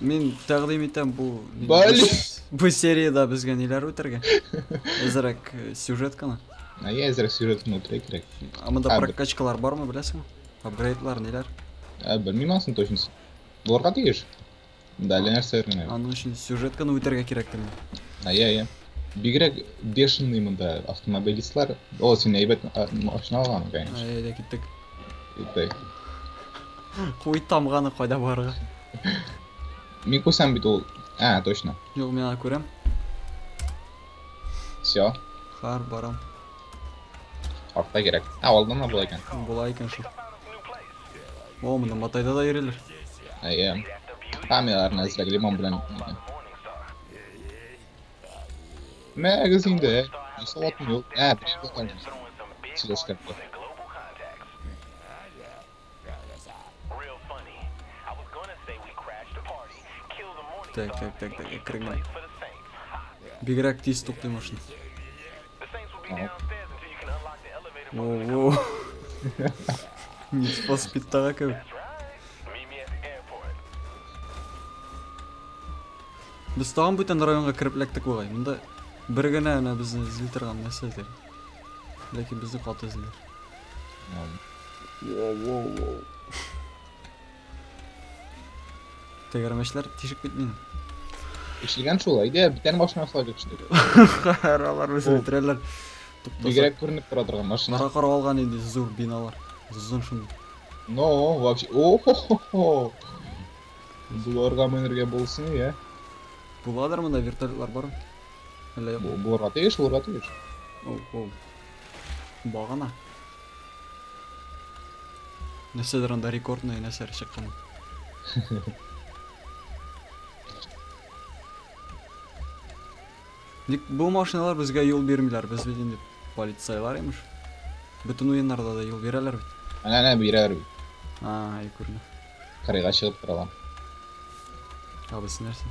Мин тәкъдим итәм бу Бали. бу сериядә безгә ниләр үтәргә? Әзрәк э, сюжетканы. А я әзрәк сюжетны үтерә кирәк. Ә монда Ә, бер- прокачкалар бармы, беләсеңме? Апгрейдлар ниләр? Ә, белмим анысын точно. Булырга тиеш. Да, әллә нәрсә генә. Аның өчен сюжетканы үтәргә кирәк тә. А я я. Бигрәк бешеный монда автомобилистлар. О, син әйбәт а, машина алган, конечно. Әйдә киттек. Киттек. Куй тамганы кайда барырга. Микусан бит ул. А, точно. Юк, мин аны күрәм. Все. Хар барам. Артта кирәк. А, алдан да була икән. Була икән шул. О, монда матайда да йөриләр. Әйе. Камераларны әзрәк лимон белән. Мәгез инде. Саватым юк. Ә, бик булган. Сөйләшкән. Так, так, так, так, әкренләп. Бигрәк тиз туктый машина. Воу. Need for Speed тага кебек. Без тагын бүтән районга кереп эләктек бугай. Монда бер генә ана безне эзли торган нәрсә икән. Ләкин безне каты эзлиләр. Воу-воу-воу. Тәгәрмәчләр тишек бит мин. Ишелгән шул, әйдә, битәр машина салып ишелгән. Хәр алар үзе Ул. бетерәләр. Туктаса. Бигрәк күренеп тора торган машина. Бара карап алган инде зур биналар. Зон шундый. Но, вообще, о-хо-хо-хо. Буларга менергә булсын, я. Буладыр монда вертолетлар бар. Әллә юк. Бу- Буларга тиеш, буларга тиеш. Оу, оу. Багана. Нәрсәдер анда рекордный нәрсәләр чыккан. Ник бу машиналар безгә юл бирмиләр? Без бит инде полицайлар имеш. Бөтен уеннарда да юл бирәләр бит. Әнә әнә бирәр бит. А, әй күренә. Кырыйга чыгып торалар. Абысы нәрсә?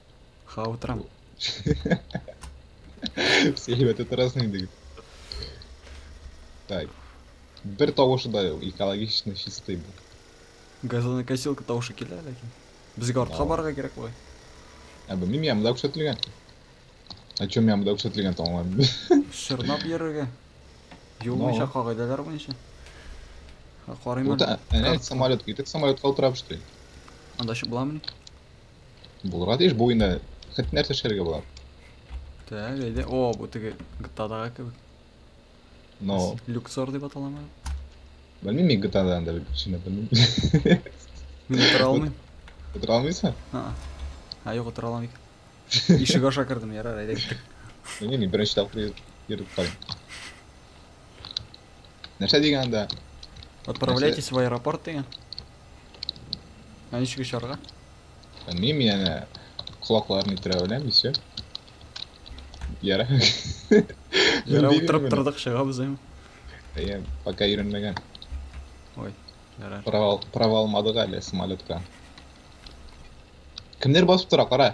Хава утрам. Все, ребят, это разные дык. Так. Бер тавышы да юк, экологичный чистый бу. Газонокосилка тавышы килә ләкин. Безгә артка барырга кирәк була. Ә бу мин ямда күрсәтелгән. А чем ямда күрсәтелгән таңлам? Шырнап йөрергә. Юл буенча кагыйдәләр буенча. Карыйм. Вот, әнә самолет китеп самолетка утырабыз. Анда шып буламыни? Булырга тиеш бу инде. Хәтта нәрсә эшләргә була? Так, әйдә. О, бу теге гтадага кебек. Но. Люксор дип аталамы? Белмим мин гтада анда киченә белмим. Мин утыра алмыйм. Утыра алмыйсың? А. А, юк, утыра алмыйм. Ишек аша кердем, ярар, әйдә. Белмим, мин беренче тапкыр йөреп карыйм. Нәрсә дигән анда? Отправляйтесь в аэропорт дигән. Ә ничек очарга? Белмим, яна колакларын иттерә беләм, и все. Яра. Яра утырып тордык, чыгабыз әйме. Я пока йөрмәгән. Ой, яра. Провал, провал мадыга әле самолетка. Кемнәр басып тора, кара.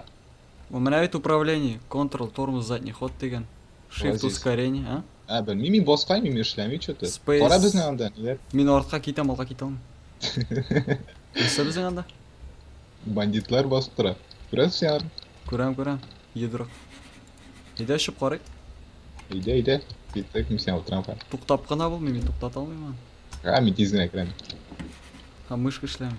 У меня ведь управление, Ctrl, тормоз, задний ход деген. Shift Вазиз. ускорение, а? Ә, белмим, мин баскайм, мин эшләми что-то. Space. Кара безне анда, ниләр? Мин артка китәм, алга китә алмыйм. Нәрсә безнең анда? Бандитлар басып тора. Күрәсең аны? Күрәм, күрәм. Йодрык. Әйдә очып карыйк. Әйдә, әйдә. Киттек, мин сиңа утырам. ха. Туктап кына булмый, мин туктата алмыйм аны. Ә, мин тиз генә керәм. Һәм мышка эшләми.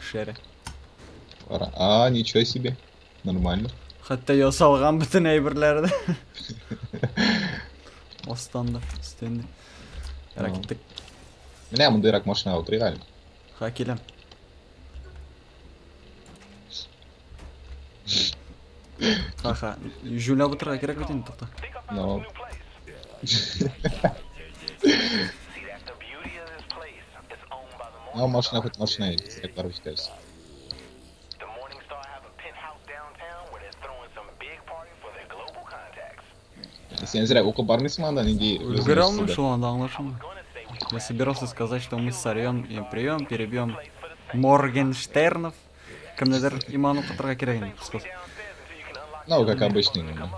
Шере. Ара- А, ничего себе. Нормально. Хәтта ясалган бөтен әйберләре дә. Астан да, өстен дә. Ярак Ага. киттек. Менә мондыйрак машина утырыйк әле. Ха, киләм. Аха, Жюля бутырга кирәк бит инде, тукта. No. No, машина хоть машина, кирәк барып җитәбез. Сен зря укып бармыйсың анда нинди... Өлгерә алмыйм шул анда аңлашылмый. Я собирался сказать, что мы сорвем и прием, перебьем Моргенштернов. Кемнедер иман укытырга кирәк инде, кыскасы. Ну, как обычный, ну.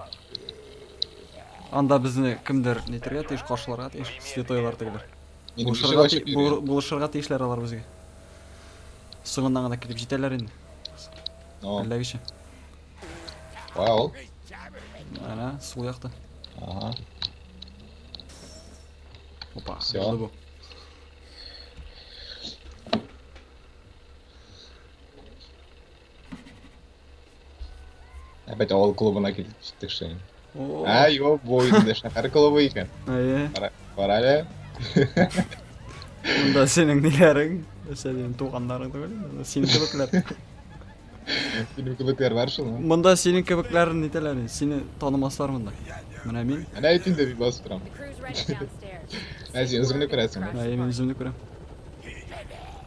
Анда безне кемдер нитергә тиеш, каршыларга тиеш, святойлар тегеләр. Булышырга, ти булышырга тиешләр алар безгә. Соңыннан гына килеп җитәләр инде. Әлләгечә. Кая ул? Әнә, сул якта. Ага. Опа, Все. Опять авыл клубына килдек киттек шәй. Ә, юк, бу инде шәһәр клубы икән. Әйе. Кара әле. Монда синең ниләрең? Синең туганнарың түгел, синең кебекләр. Синең кебекләр бар шул. Монда синең кебекләр нитәләр? Сине танымаслар монда. Менә мин. Менә әйт инде бик басып торам. Ә син үзеңне күрәсең. Әйе, мин үземне күрәм.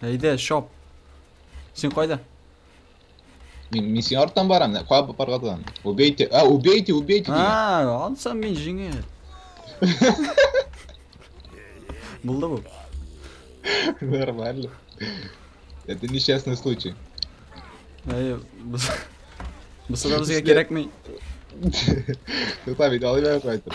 Әйдә, шоп. Син кайда? Мин, мин син арттан барам, кая барга торам? Убейте, а, убейте, убейте меня. А, ансам мин жиңел. Булды бу. Нормально. Это несчастный случай. Әй, без... Без суда безгә кирәкми. Тотам, иде алып кайтып.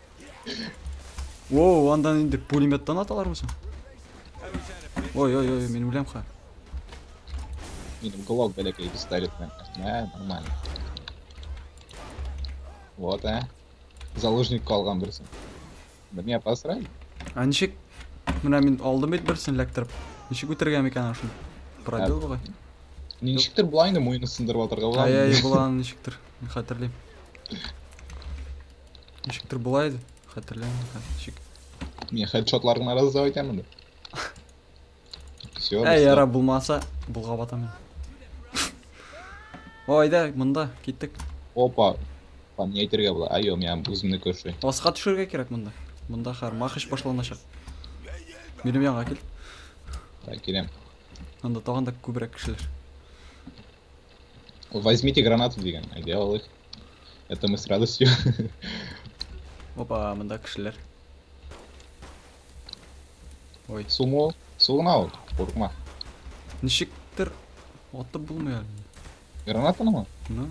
Воу, андан инде пулеметтан аталармы соң? Ой, ой, ой, мин үләм ха. Минем глок бәләкәй пистолет белән. Ә, нормально. Вот, ә. Заложник калган берсен. Менә посрай. А ничек? Менә мин алдым бит берсен эләктереп. Ничек үтергән икән шуны? Пробил бугай. Ничектер булайны муены сындырып атырга була. Ай, ай, булан ничектер. Хәтерлим. Ничектер болай еді, хәтерләмим хәзер ничек. Мин хедшотларың арасы да икән монда. Все. Әй, яра булмаса, булга батам. Ой, да, монда киттек. Опа. Там не әйтергә була. Айо, мин үземне күрши. Аска төшергә кирәк монда. Монда хәр махыш башланачак. Минем янга кил. Так, киләм. Анда тагын да күбрәк кешеләр. Возьмите гранаты дигән, әйдә алыйк. Это мы с радостью. Опа, монда кешеләр. Ой. Сумо, суына ул, курыкма. Ничектер атып булмый әле. Гранатанымы? Ну.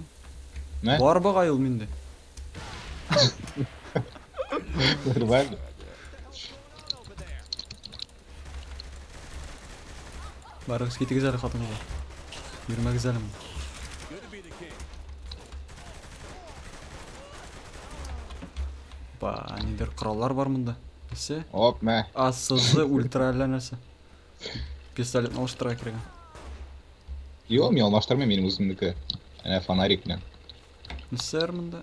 Мә? Бар бага ул миндә. Нормально. Барыгыз китегез әле хатынга. Йөрмәгез әле. Ба, нидер кораллар бар монда. Нәрсә? Оп, мә. Асызы ультра әллә нәрсә. Пистолетны алыштыра кирәк. Йо, мин алмаштырмыйм, минем үземнеке. Әнә фонарик белән. Нәрсәләр монда?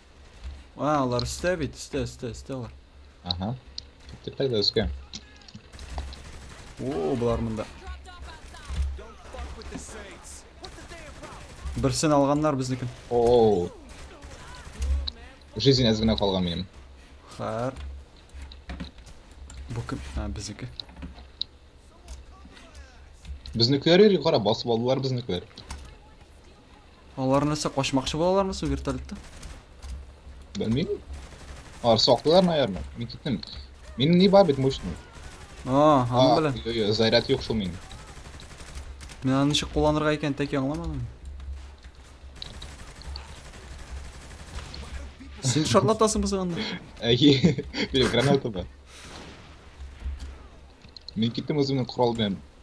А, алар өстә бит, өстә, өстә, өстә алар. Ага. Тепә дә өскә. О, болар монда. Берсен алганнар безнекен. О. Жизнь әз генә калган минем. Хар. Бу кем? А, безнеке. Безнекеләр йөри, кара, басып алдылар безнекеләр. Алар нәрсә качмакчы булалармы су вертолетта? Белмим. Алар соклылар, наверное. Мин киттем. Мин не бабит мощный. А, аны белән. Йо, йо, заряд юк шул мин. Мин аны ничек кулланырга икән тәки аңламадым. Син шарлатасыңмы син анда? Әйе. Бирем граната да. Мин киттем үземнең корал белән.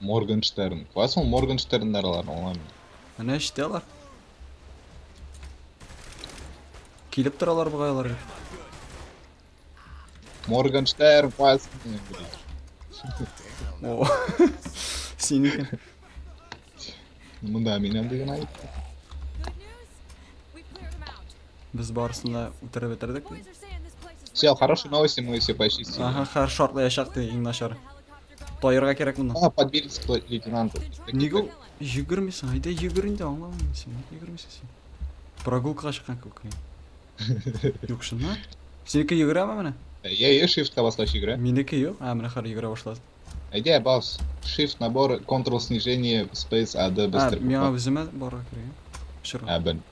Моргенштерн. Куасың Моргенштерннарларын аңламыйм. Менә эштә алар. Килеп торалар бугай алар. Моргенштерн куасың. О. Син икән. Мында минем дигән айт. Без барысын да үтереп бетердек. Все, хорошие новости, мы все почистили. Ага, хорошо, шартлаячак ты, иң начар. Таярга кирәк монда. Ана подбельство лейтенант. Нигә ул йөгермисең? Әйдә йөгер инде, аңламыйм син. Нигә йөгермисең син? Прогулкага чыккан күк мин. Юк шунда. Синеке йөгерәме менә? Я я shiftка баскач йөгерә. Минеке юк. А, менә хәзер йөгерә башлады. Әйдә бас. Shift набор, control снижение, space AD А, быстро. миңа үземә барырга кирәк. Шыр. А, бен.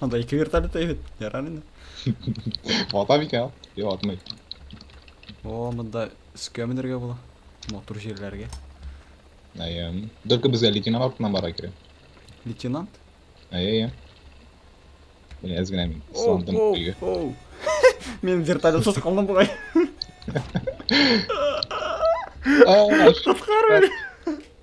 Анда ике вертолет та бит. Ярар инде. Вата бик ал. Йо, атмый. О, монда өскә менергә була. Матур җирләргә. Әйе. Только безгә лейтенант артыннан бара кирәк. Лейтенант? Әйе, әйе. Мин әз генә мин. Сландым көйгә. Оу. Мин вертолетсыз калдым бугай. Ай, Коткар мені.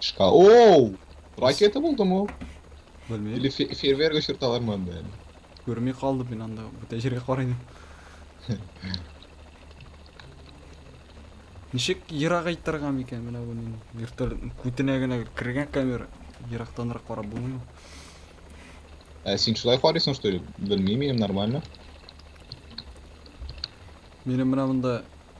Шка... Оу! Ракета булдымы ул? Белмим. Или фе- фейерверк очырталармы анда әле? Күрми калдым мин анда. Бүтән җиргә карыйм. Ничек ерагайтырга микән менә бу нин? Вертолет күтенә генә кергән камера. Ерактанрак карап булмыймы? Ә син шулай карыйсың, что ли? Белмим, минем нормально. Минем менә монда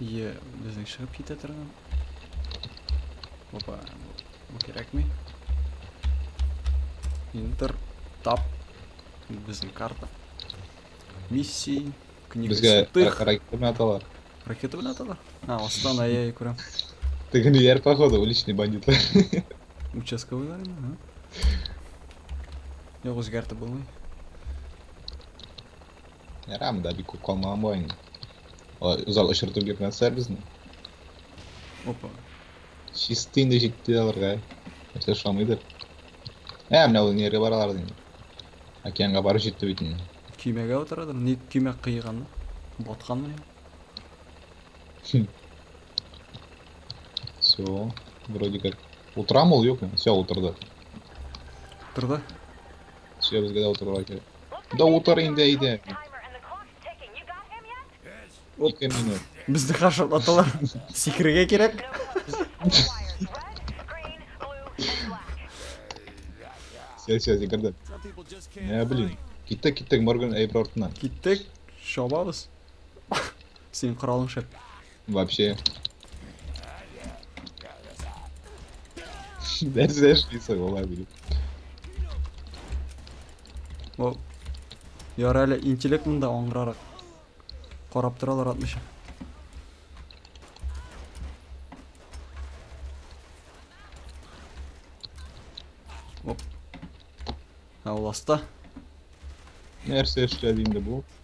Е, безнең чыгып китә торган. Опа, бу кирәкми. Интер, тап, безнең карта. Миссии, книга Безгә святых. ракета белән аталар. Ракета белән аталар? А, астан ай-яй күрәм. Теге ниләр, походу, уличный бандитлар. Участковыйлар инде, ха? Юк, үзгәртеп булмый. Ярам да бик калмаган була инде. Узал очыртып йөрмәсләр безне. Опа. Чисты инде җитте аларга. Нәрсә шамыйдыр. Ә, менә ул нигә баралар инде. Океанга барып җитте бит инде. Көймәгә утырадыр. Ни көймә кыйган? Батканмы ни? Все, вроде как. Утырамы ул юкмы? Все, утырды. Утырды. Все, безгә дә утырырга кирәк. Да утыр инде әйдә. Ике минут. Безне каршылап аталар. Сикерергә кирәк. Сел, сел, сикерде. Ә, блин. Киттек, киттек, Морган әйбер артына. Киттек, шабабыз. Синең коралың шәп. Вообще. Дәр зәшли сыгыла биріп. О, яр әле интеллект мында аңгырарак. Карап торалар атмыйча. Оп. Ә ул аста. Нәрсә эшләде инде бу?